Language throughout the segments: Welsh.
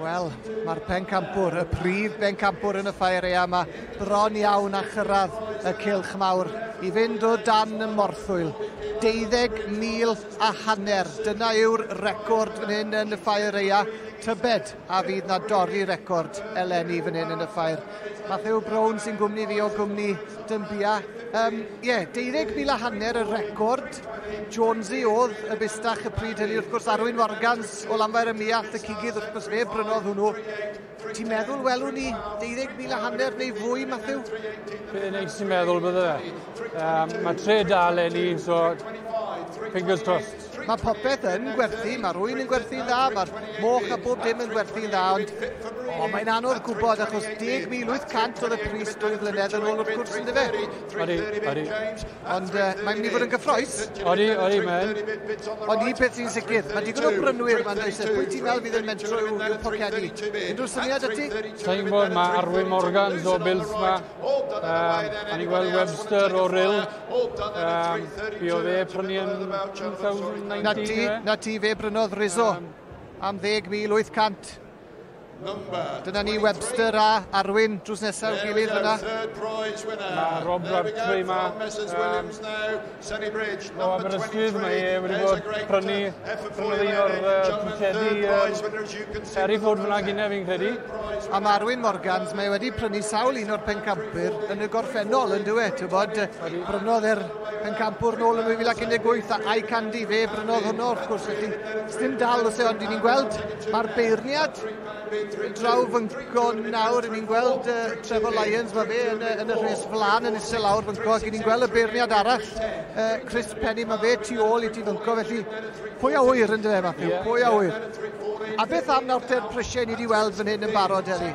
Wel, mae'r pencampwr, y prif bencampwr yn y ffaerea yma, bron iawn a chyrraedd y cilch mawr i fynd o dan y morthwyl. 12,000 a hanner. Dyna yw'r record yn hyn yn y ffaerea. Tybed a fydd na dorri record eleni fan hyn yn y ffair. Matthew Brown sy'n gwmni fi o gwmni Dymbia. Um, yeah, 12,000 a hanner y record. Jonesy oedd y bustach y pryd hynny, wrth gwrs Arwyn Morgans O Lanfair ym Muallt y Cigydd, wrth gwrs fe brynodd hwnnw. Ti'n meddwl welwn ni 12,000 a hanner neu fwy, Matthew? Be neis ti'n meddwl bydde fe. Um, mae tre da lenni, so fingers crossed. Mae popeth yn gwerthu, mae rwy'n yn gwerthu'n dda, mae'r moch a bob dim yn gwerthu'n dda, ond o, mae'n anodd gwybod achos 10,800 oedd y pris dwy flynedd yn ôl wrth gwrs yn dyfe. Odi, odi. Ond uh, mae'n mynd i fod yn gyffroes. Odi, odi, man. Ond un peth sy'n sicr, mae digon o brynwyr mae'n dweud, sef pwy ti'n meddwl fydd yn mentro i'w i'w pocedi? Unrhyw syniad ati? Sa'n gwybod, mae Arwyn Morgans o Bills ma. Um, O'n i gweld Webster o Rill. Um, fi o fe prynu yn 2019. Na ti, na ti fe brynodd Rizzo am 10,800. Dyna ni Webster a Arwyn drws nesaf i'w gilydd yna. Mae Rob Rartrey yma. Um, o Aberystwyth, mae e wedi bod prynu prynu un o'r ticedi um, Harry Ford fyna gyda fi'n credu. A mae Arwyn Morgans, mae wedi prynu sawl un o'r pencampwyr yn y gorffennol yn dweud, ti'n bod, brynodd e'r pencampwr nôl yn 2018 a I Candy, fe brynodd hwnnw wrth gwrs, felly dim dal os e ond ni'n gweld Mae'r beirniad draw fy ngorn nawr, yn ni'n gweld uh, Trevor Lyons, mae fe yn, yn y rhes flan yn eisiau lawr fy ngorn, ac ni'n gweld y beirniad arall, uh, Chris Penny, mae fe tu ôl i ti fy ngorn, felly pwy a wyr yn dweud fath yeah. pwy a wyr. A beth am nawr te'r prisiau ni wedi weld fan hyn yn barod, Eli?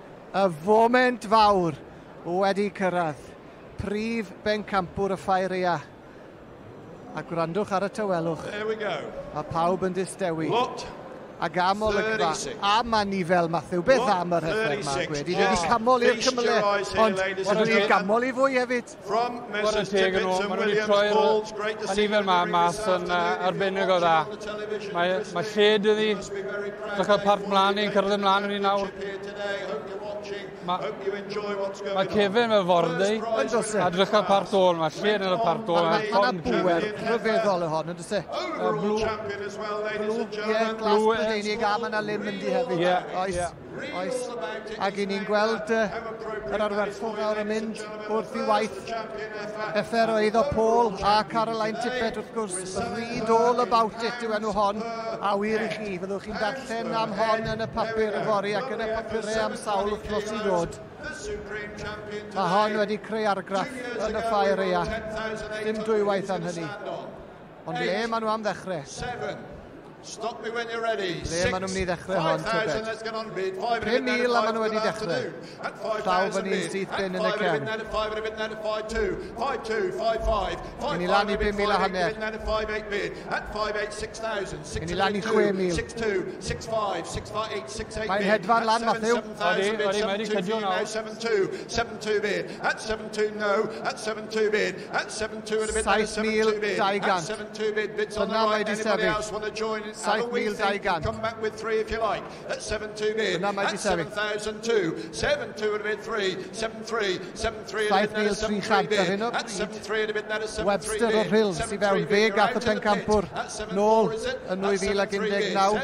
Y foment fawr wedi cyrraedd, prif bencampwr y Ffaeria. A gwrandwch ar y tawelwch. There we go. Mae pawb yn distewi. Lot. Ac am olygfa, a mae ni fel Matthew, beth am yr hyder mae Gwedi? Ni wedi camol i'r cymle, ond ond wedi camol i fwy hefyd. From Mrs Tippett to Williams Balls, great to see you yma mas yn arbennig o dda. Mae, mae lled iddi. Dwi'n cael parc mlaen i'n cyrraedd ymlaen yn ni nawr. Mae ma Kevin fel fordy. A dwi'n cael parc dôl yma. Lled yn y parc dôl. Mae yna bwer rhyfeddol y hon, ynddo se? Blue, ie, glas Brydeinig a mae yna lym yndi hefyd. Ie, oes. Oes, ac i ni'n gweld uh, yr arwerthwr nawr yn mynd wrth i waith effer o eiddo Paul a Caroline Tippett wrth gwrs, read all about it yw enw hon, a wir i chi, fyddwch chi'n darllen am hon yn y papur y fori ac yn y papurau am sawl wythnos i ddod. Mae hon wedi creu argraff yn y ffair eia. Dim dwywaith am hynny. Ond ble maen nhw am ddechrau? Seven. Stop me when you're ready. Ble maen nhw'n mynd i ddechrau hon, Tybed? 5,000 a maen nhw wedi dechrau. Llaw fyny syth bin yn y cefn. Yn i lan i 5,000 a hanner. Yn i lan i 6,000. Mae'n hedfan lan, Matthew. Odi, odi, mae'n i cydio nawr. 72 bid. At 72 no. At 72 bid. 7,200. Dyna mae di sefyll. 7,200. Dyna mae di sefyll. 7,300 ar hyn o bryd. Webster o'r Rhyls i fewn. Fe gath y pencampwr nôl yn 2019.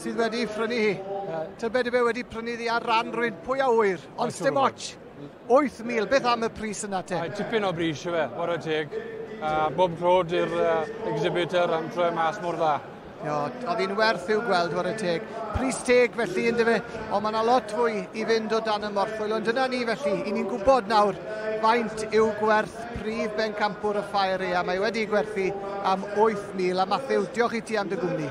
sydd wedi prynu hi. Tybed y be wedi prynu ddi ar ran rwy'n pwy a wyr, ond stem ots. 8,000, beth am y pris yna te? Mae tipyn o bris i fe, bod y teg. Uh, bob clod i'r uh, exhibitor am troi mas mor dda. Ia, oedd hi'n werth i'w gweld o'r y teg. Pris teg felly yn dyfe, ond mae yna lot fwy i fynd o dan y morchwyl. Ond dyna ni felly, i ni'n gwybod nawr faint yw gwerth prif bencampwr y ffair ea. Mae wedi gwerthu am 8,000. A Matthew, diolch i ti am dy gwmni.